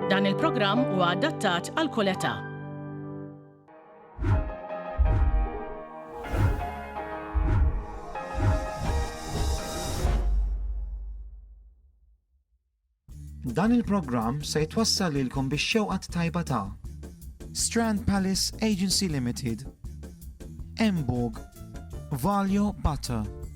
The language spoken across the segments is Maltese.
Dan il-programm huwa adattat għal kull età. Dan il-programm se jitwassal lilkom biex xewqat tajba ta' Strand Palace Agency Limited, Emburg, Valjo Butter,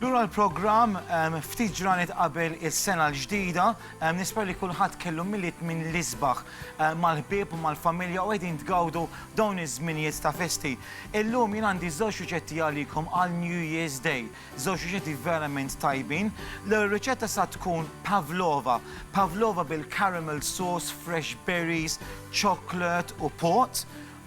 Lura l-programm, ftit ġranet qabel is-sena l-ġdida, nispera li kulħadd kellu Milied minn l-isbaħ mal-ħbieb u mal-familja u qegħdin tgawdu dawn iż-żminijiet ta' festi. Illum jien għandi żewġ riċetti għalikom għal New Year's Day, żewġ riċetti verament tajbin. L-ewwel riċetta sa tkun pavlova, pavlova bil-caramel sauce, fresh berries, chocolate u pot.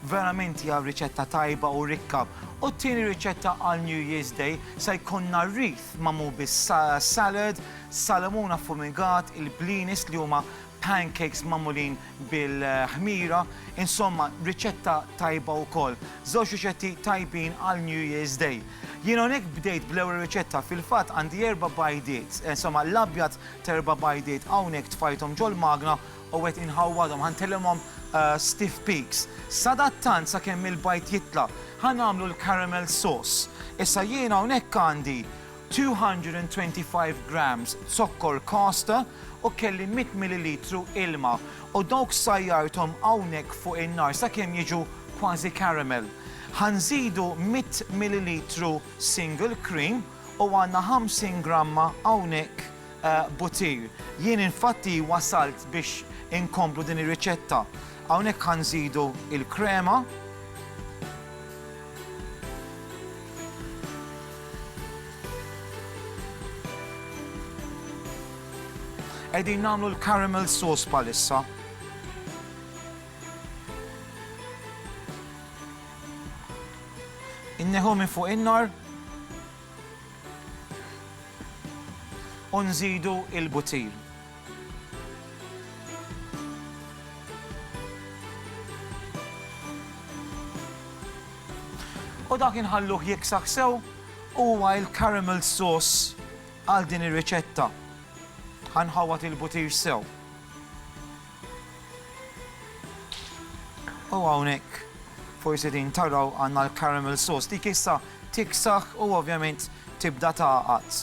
Verament hija riċetta tajba u rikka. U t-tieni riċetta għal New Year's Day se jkollna wreath magħmul bis-salad, salamun affumigat, il-blinis li huma pancakes magħmulin bil-ħmira, insomma riċetta tajba wkoll. Żewġ riċetti tajbin għal New Year's Day. Jien hawnhekk bdejt bl-ewwel riċetta, fil-fatt għandi erba' bajdiet, insomma l-abjad t'erba' bajdiet hawnhekk tfajthom ġol-magna U qed inħawwadhom, ħa ntillimhom stiff peaks. Sadattant sakemm il-bajd jitla', ħa nagħmlu l-caramel sauce. Issa jiena hawnhekk għandi 225 grams zokkor caster u kelli 100 millilitru ilma u dawk sajjarthom hawnhekk fuq in-nar sakemm jiġu kważi caramel. Ħa nżidu 100 millilitru single cream u għandna 50 gramma hawnhekk Butir. Jien infatti wasalt biex inkomplu din ir-riċetta. Hawnhekk ħa nżidu l-krema. Qegħdin nagħmlu l-caramel sauce bħalissa. Inneħu minn fuq in-nar. U nżidu l-butir. U dak inħalluh jiksaħ sew u huwa l-caramel sauce għal din ir-riċetta. Ħa nħawwad il-butir sew. U hawnhekk forsi din taraw għandna l-caramel sauce. Dik issa tiksaħ u ovvjament tibda tagħqad.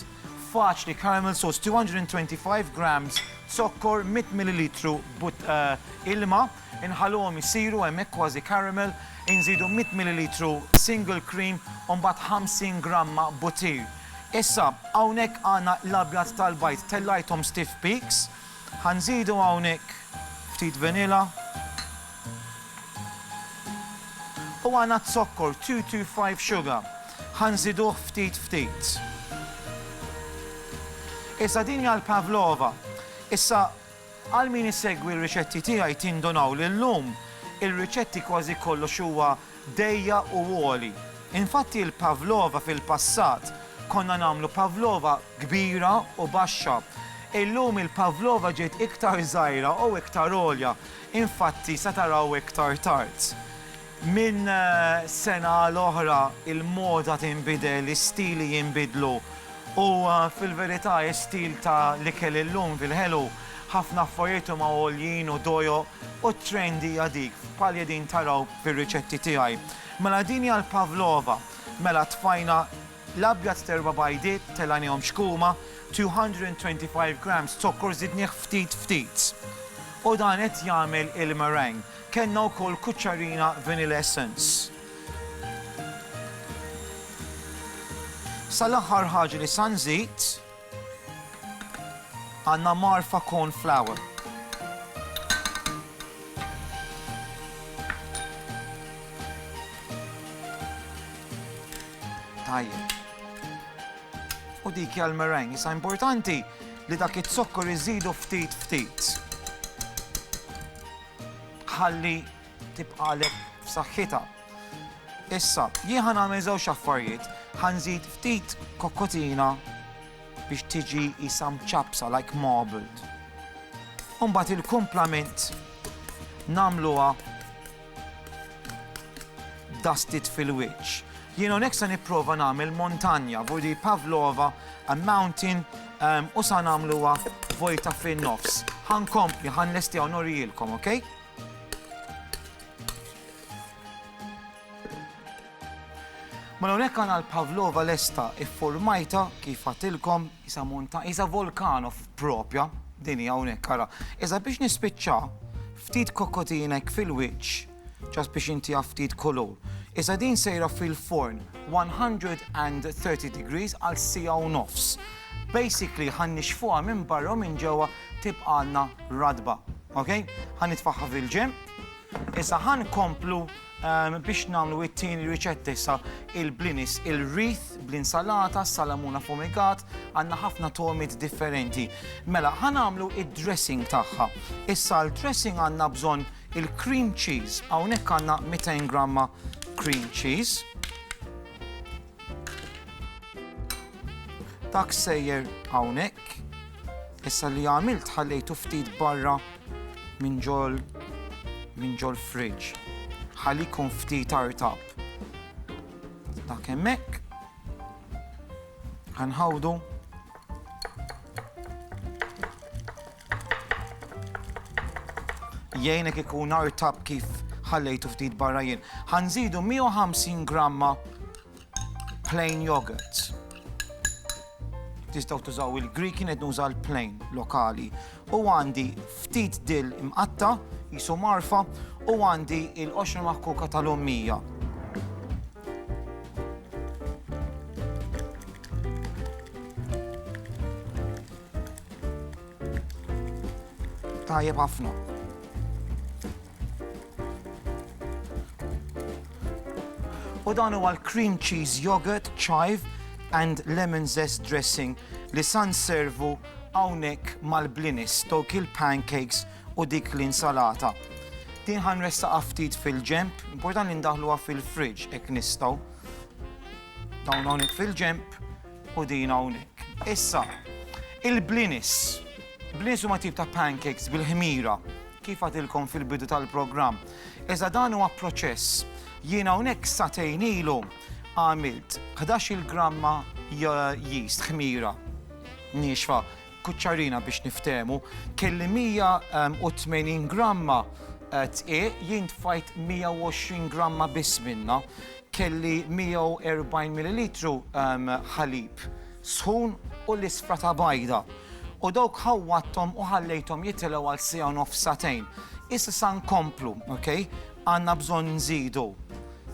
Faċli caramel sauce 225 grams zokkor 100 millilitru but eh, ilma, inħalluhom isiru hemmhekk kważi caramel, inżidu 100 millilitru single cream u mbagħad 50 gramma butir. Issa hawnhekk għandna l-abjad tal-bajd tellajthom stiff peaks, Ħa nżidu hawnhekk ftit vanilla u għana z-zokkor 225 sugar. Ħa nżiduh ftit ftit. Issa din hija l-pavlova. Issa għal min isegwi r-riċetti tiegħi tindunaw li llum ir-riċetti kważi kollox huwa dejja u għoli. Infatti l-pavlova fil-passat konna nagħmlu pavlova kbira u baxxa. Illum il-pavlova ġiet iktar żgħira u iktar għolja. Infatti se taraw iktar tard. Minn sena għal oħra il-moda tinbidel, is-stili jinbidlu u fil-verità is-stil ta' l-ikel illum fil-ħelu ħafna affarijiet huma għoljin u dojoq u t-trend hija dik bħal li qegħdin taraw fir-riċetti tiegħi. Mela din hija l-pavlova. Mela tfajna l-abjad t'erba' bajdiet, telgħnihom xkuma, 225 grams zokkor żidnih ftit ftit. U dan qed jagħmel il-meringue. Kellna wkoll kuċċarina vanilla essence. Sa l-aħħar ħaġa li sa nżid, Għandna Marfa Corn Flour. Tajjeb. U dik hija l-meringue. Issa importanti li dak iz-zokkor iżidu ftit ftit. Ħalli tibqalek f'saħħitha. Issa, jien ħa nagħmel żewġ affarijiet, ħa nżid ftit kokkotina biex tiġi isa mċappsa like marbled. Umbagħad il-kumplament nagħmluha dusted fil-wiċċ. Jien hawnhekk se nipprova nagħmel montanja, vodi pavlova, a mountain, um, u sa nagħmluha vojta fin-nofs. Ħankompli, ħanlesti hawn norijilkom, okay? Mela hawnhekk għandna l-Pavlova lesta iffurmajta kif għatilkom isa monta isa volkanov propja din hija hawnhekk ara. Iżda biex nispiċċa ftit kokotinek fil-wiċċ ġas biex inti ftit kolor. Iżda din sejra fil-forn 130 degrees għal sija u nofs. Basically ħan nixfuha minn barra minn ġewwa tibqalna radba. Ok? Ħan nitfaħħa fil-ġem. Issa ħa nkomplu biex nagħmlu it-tieni riċetta issa il-blinis il-wreath bl-insalata, salamuna fumigat, għandna ħafna togħmiet differenti. Mela ħa nagħmlu id-dressing tagħha. Issa l-dressing għandna bżonn il-cream cheese, hawnhekk għandna 200 gramma cream cheese. Dak sejjer hawnhekk. Issa li għamilt ħallejtu ftit barra minn ġol minn ġol fridge. Ħalli jkun ftit artab. Dak hemmhekk. Ħanħawdu. Jgħinek ikun artab kif ħallejtu ftit barra jien. Ħanżidu 150 gramma Plain yogurt. Tistaw tużaw il-Greek kienet nuża l-plain lokali. U għandi ftit dil imqatta, jisu marfa, u għandi il-qoxra maħkuka tal-ommija. Tajjeb ħafna. U dan huwa l-cream cheese yogurt, chive and lemon zest dressing li san servu hawnhekk mal-blinis, tokil pancakes u dik l-insalata. Din ħan ressaqa ftit fil-ġemp, important li ndaħluha fil-fridge ek nistaw. Dawn hawnhekk fil-ġemp. u din hawnhekk. Issa, il-blinis. Blinis huma tip ta' pancakes bil-ħmira kif għatilkom fil-bidu tal-programm. Iżda dan huwa proċess. Jiena hawnhekk satejn ilu għamilt 11 gramma jist ħmira nixfa kuċċarina biex niftemu kelli 180 gramma tqiq jien tfajt 120 gramma biss minna. Kelli 140 millilitru ħalib sħun u l-isfra ta' bajda, u dawk ħawwadthom u ħallejthom jitilgħu għal siegħa u nofs sagħtejn. Issa sa nkomplu, ok? Għandna bżonn nżidu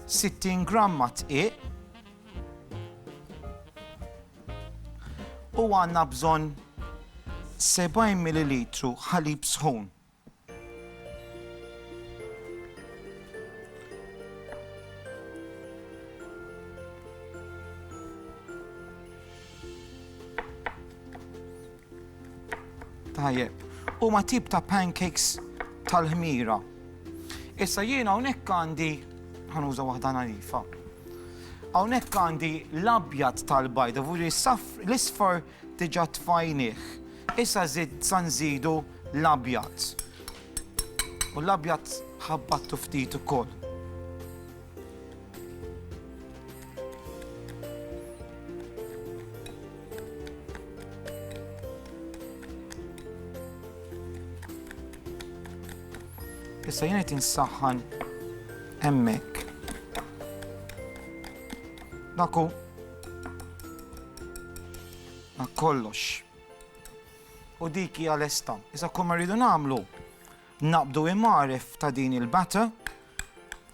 60 gramma dqiq u għandna bżonn 70 millilitru ħalib sħun. Tajjeb, u ma tip ta' pancakes tal-ħmira. Issa jiena hawnhekk għandi ħanuża waħda narifa. Hawnhekk għandi l-abjad tal-bajda, vuri l-isfar Diġà tfajnieh. Issa żidt sa nżidu l-abjad. U l-abjad ħabbattu ftit ukoll. Issa jien qed insaħħan hemmhekk. Daku Ma kollox. U dik hija lesta. Issa kull ma rridu nagħmlu naqbdu imaref ta' din il-batter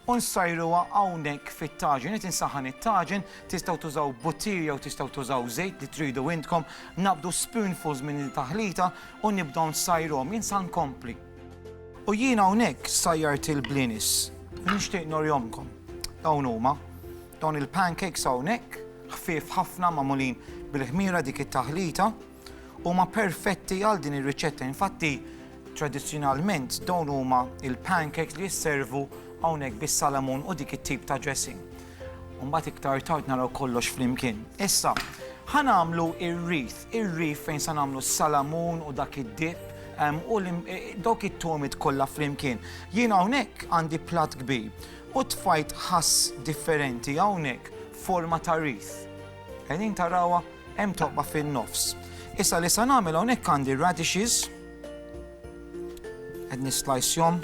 u nsajruha hawnhekk fit-taġin. Qed insaħħan it-taġin, tistgħu tużaw buttir jew tistgħu tużaw żejt li tridu intkom, nabdu spoonfuls minn il-taħlita u nibdew nsajruhom. Jien sa nkompli. U jien hawnhekk sajjart il-blinis. Nixtieq norjomkom. Dawn huma. Dawn il-pancakes hawnhekk, ħfief ħafna magħmulin bil-ħmira dik it-taħlita, huma perfetti għal din ir-riċetta. Infatti, tradizzjonalment dawn huma il-pancakes li jisservu hawnhekk bis-salamun u dik it-tip ta' dressing. Mbagħad iktar tard naraw kollox flimkien. Issa, ħa nagħmlu ir-rif, ir-rif fejn sa nagħmlu s-salamun u dak id-dip u dawk it-tomit kollha flimkien. Jien hawnhekk għandi plat kbir U tfajt ħass differenti hawnhekk f'forma ta' wreath. Qegħdin tarawha? Hemm toqba fin-nofs. Issa li se nagħmel hawnhekk għandi radishes. Qed nislajsjhom.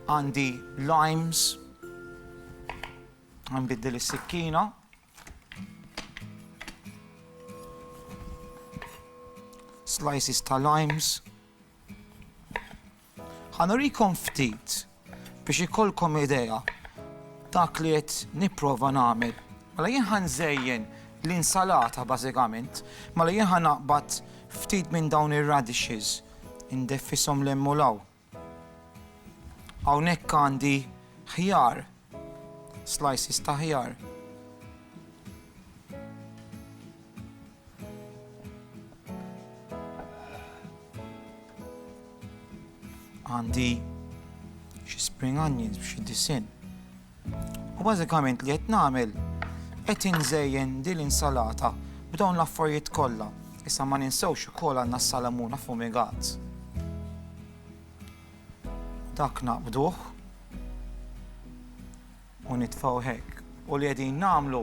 Għandi limes. Nbiddel is-sikkina. Slices ta' limes. Ħanurikom ftit biex ikolkom idea dak li qed nipprova nagħmel. Mela jien ħanżejjen l-insalata bażikament, mela jien ħanaqbad ftit minn dawn ir-radishes, indefisom l-hemm u l-hawn. Hawnhekk għandi ħjar, slices ta' ħjar. Għandi xi spring onions b'xi disin. U bażikament li qed nagħmel, qed inżejjen din l-insalata b'dawn l-affarijiet kollha. Issa ma ninsewx ukoll għandna s-salamun affumigat. Dak naqbduh u nitfgħu hekk. U li qegħdin nagħmlu,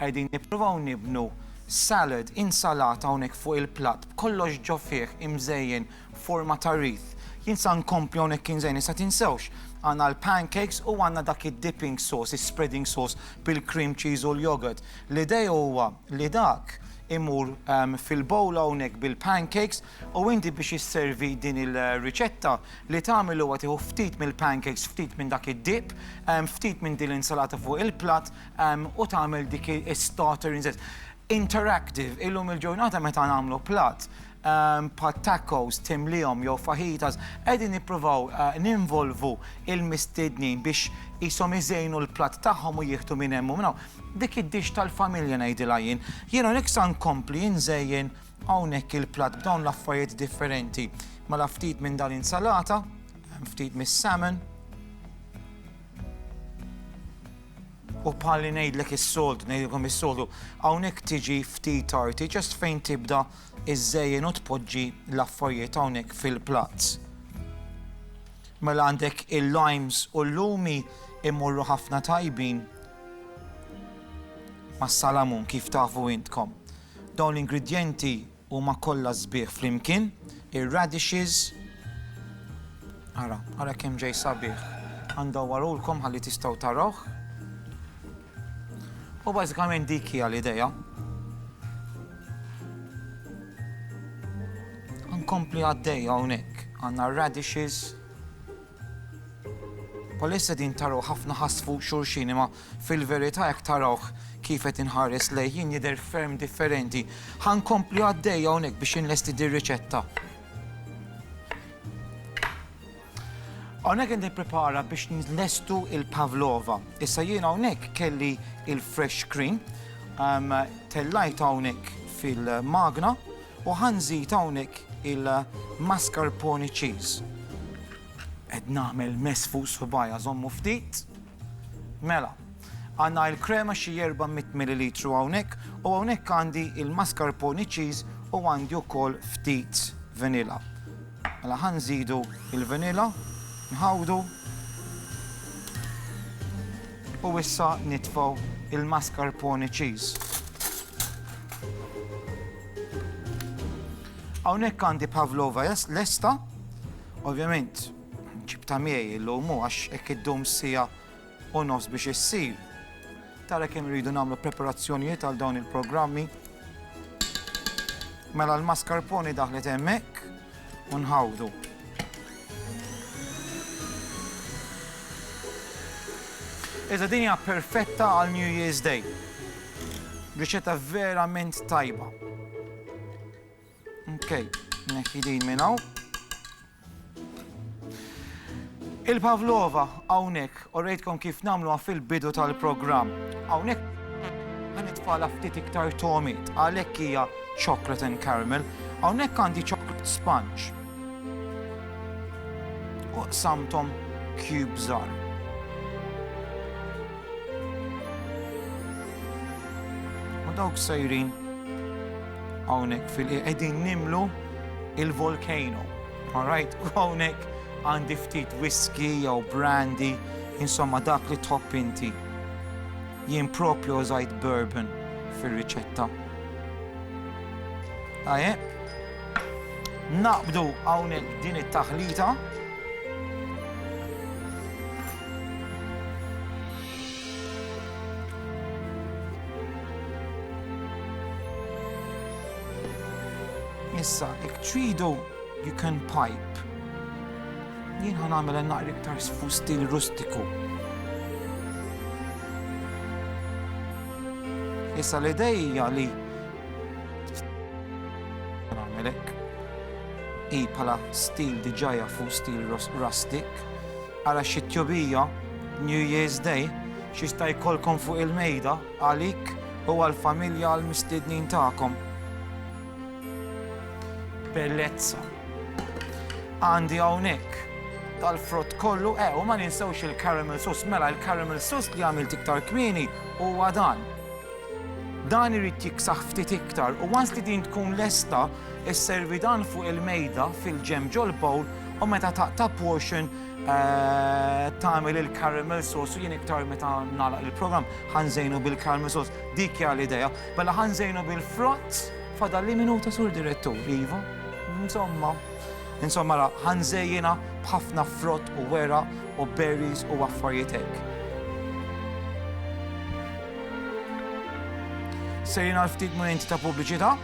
qegħdin nippruvaw nibnu salad, insalata hawnhekk fuq il-platt b'kollox ġo fih imżejjen forma ta' wreath. Jien sa nkompli hawnhekk Kien Żejni sa tinsewx għandna l-pancakes u għandna dak id-dipping sauce, is-spreading sauce bil-cream cheese u l-yogurt. L-idea huwa li dak imur fil-bowl hawnhekk bil-pancakes u inti biex isservi din il-riċetta li tagħmel huwa tieħu ftit mill-pancakes, ftit minn dak id-dip, ftit minn din l-insalata fuq il-platt u tagħmel dik is-starter. Interactive, illum il-ġurnata meta nagħmlu platt, bħal tacos, timliehom jew fajitas, qegħdin nippruvaw ninvolvu l-mistednin biex qishom iżejnu l-platt tagħhom u jieħdu minn hemm u minn hawn. Dik id-dish tal-familja ngħidilha jien. Jien hawnhekk sa nkompli inżejjen hawnhekk il-platt b'dawn l-affarijiet differenti. Mela ftit minn dal-insalata, ftit mis-salmon, u bħalli ngħidlek is-soltu, ngħidilkom is-soltu, hawnhekk tiġi ftit tarti, just fejn tibda iżżejjen u tpoġġi l-affarjiet hawnhekk fil-platz. Mela għandek il-limes u l-lumi imorru ħafna tajbin mas-salamun kif tafu intkom. Dawn l-ingredjenti huma kollha sbieħ flimkien, ir-radishes, ara, ara kemm ġej sabiħ. Għandha warulkom ħalli tistgħu tarawh. U bażikament dik hija l-idea. Nkompli għaddej hawnhekk. Għandna radishes. Bħalissa din taraw ħafna ħass fuq xulxin imma fil-verità jekk tarawh kif qed inħares lejh jien jidher ferm differenti. Ħa nkompli għaddej hawnhekk biex inlesti dir-riċetta. Hawnhekk qed nipprepara biex nlestu il-pavlova. Issa jien hawnhekk kelli il-fresh cream, ehm, tellajt hawnhekk fil-magna u ħanżid hawnhekk il-mascarpone cheese. Qed nagħmel mess fuq subajja żommu ftit. Mela, għandna il-krema xi 400 millilitru hawnhekk u hawnhekk għandi il-mascarpone cheese u għandi wkoll ftit vanilla. Mela ħa nżidu il-vanilla, nħawdu u issa nitfaw il-mascarpone cheese. Hawnhekk għandi pavlova lesta, ovvjament Ġibtha miegħi illum u għax hekk iddum siegħa u nofs biex issir. Tara kemm iridu nagħmlu preparazzjonijiet għal dawn il-programmi. Mela l-mascarpone daħlet hemmhekk u nħawdu. Iżda din hija perfetta għal New Year's Day. Riċetta verament tajba. Okay, nekki din minn hawn. Il-Pavlova hawnhekk u rejtkom kif nagħmluha fil-bidu tal-programm. Hawnhekk ma nitfala ftit iktar tomit għalhekk hija chocolate and caramel. Hawnhekk għandi chocolate sponge. U samtom cubes are. U dawk sejrin Hawnhekk fil-qiegħ qegħdin nimlu il-volcano. Alright, u hawnhekk għandi ftit whisky jew brandy, insomma dak li tħobb inti. Jien propju użajt bourbon fir-riċetta. Aje, naqbdu hawnhekk din it-taħlita. Issa, jekk tridu, you can pipe. Jien ħa nagħmilha naqra iktar fu stil rustiku. Issa l-idej hija li nagħmelek hi bħala stil diġà jafu stil rustic. Ara xi tjubija, New Year's Day, x'jista' jkollkom fuq il-mejda għalik u għall-familja għall-mistiednin tagħkom. Bellezza. Għandi hawnhekk tal-frott kollu, eh, u ma ninsewx il-caramel sauce, mela il-caramel sauce li għamilt iktar kmieni huwa dan. Dan irid jiksaħ ftit iktar u once li din tkun lesta, Isservi dan fuq il-mejda fil-ġem ġol-bowl u meta taqta' portion eh, tagħmel il-caramel sauce u jien iktar meta nagħlaq il-programm ħanżejnu bil-caramel sauce. Dik hija l-idea. Mela ħanżejnu bil-frott fadal li minuta sur direttur, iva. Insomma, insomma la ħanżejjina b'ħafna frott u wera u berries u affarijiet hekk. Sejna l-ftit momenti ta' pubbliċità.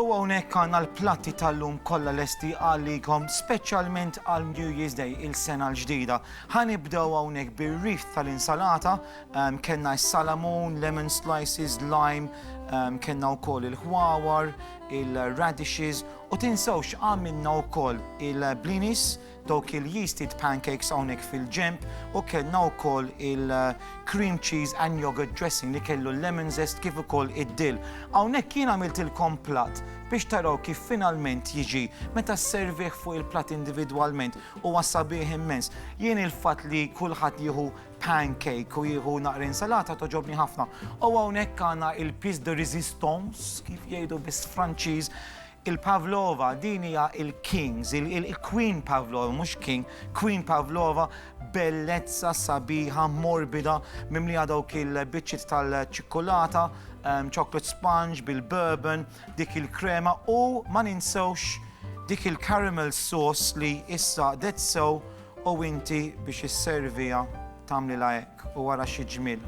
U hawnhekk għandna l-platti tal-lum kollha lesti għalikom speċjalment għal New Year's Day, il-sena l-ġdida. Ħa nibdew hawnhekk bir-wreath tal-insalata, ehm, kellna s-salamun, lemon slices, lime, ehm, kellna wkoll il-ħwawar, il-radishes u tinsewx għamilna wkoll il-blinis, Dawk il-yeasted pancakes hawnhekk fil-ġenb u kellna wkoll il-cream cheese and yoghurt dressing li kellu l-lemon zest kif ukoll id-dill. Hawnhekk jien għamiltilkom platt biex taraw kif finalment jiġi meta sservih fuq il-platt individwalment huwa sabiħ immens. Jien il-fatt li kulħadd jieħu pancake u jieħu naqra insalata toġobni ħafna. U hawnhekk għandna il-piece de resistance kif jgħidu bis-Franċiż Il-Pavlova, din hija il-kings, il-queen Pavlova, mhux king, queen Pavlova, bellezza sabiħa, morbida, mimlija dawk il-biċċiet tal-ċikkulata, ehm, chocolate sponge bil-bourbon, dik il-krema u ma ninsewx dik il-caramel sauce li issa dead so U inti biex isserviha tagħmlilha hekk, u ara xi ġmiel.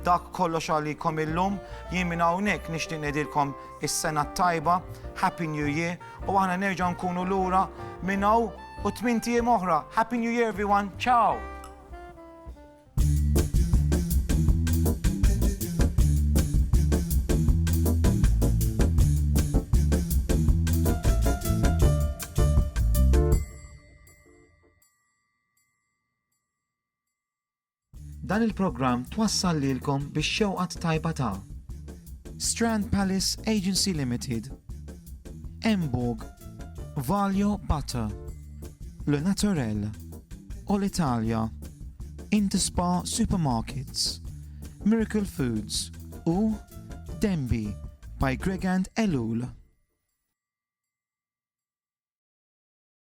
Dak kollox għalikom illum, jien minn hawnhekk nixtieq ngħidilkom is-Sena t-Tajba, Happy New Year, u aħna nerġgħu nkunu lura minn hawn u tmint ijiem oħra. Happy New Year everyone, ciao! Dan il-programm twassal lilkom bix-xewqa t-tajba ta' Strand Palace Agency Limited, Emborg, Valio Butter, Le Naturel, Olitalia, Interspa Supermarkets, Miracle Foods u Denby by Gregand Ellul.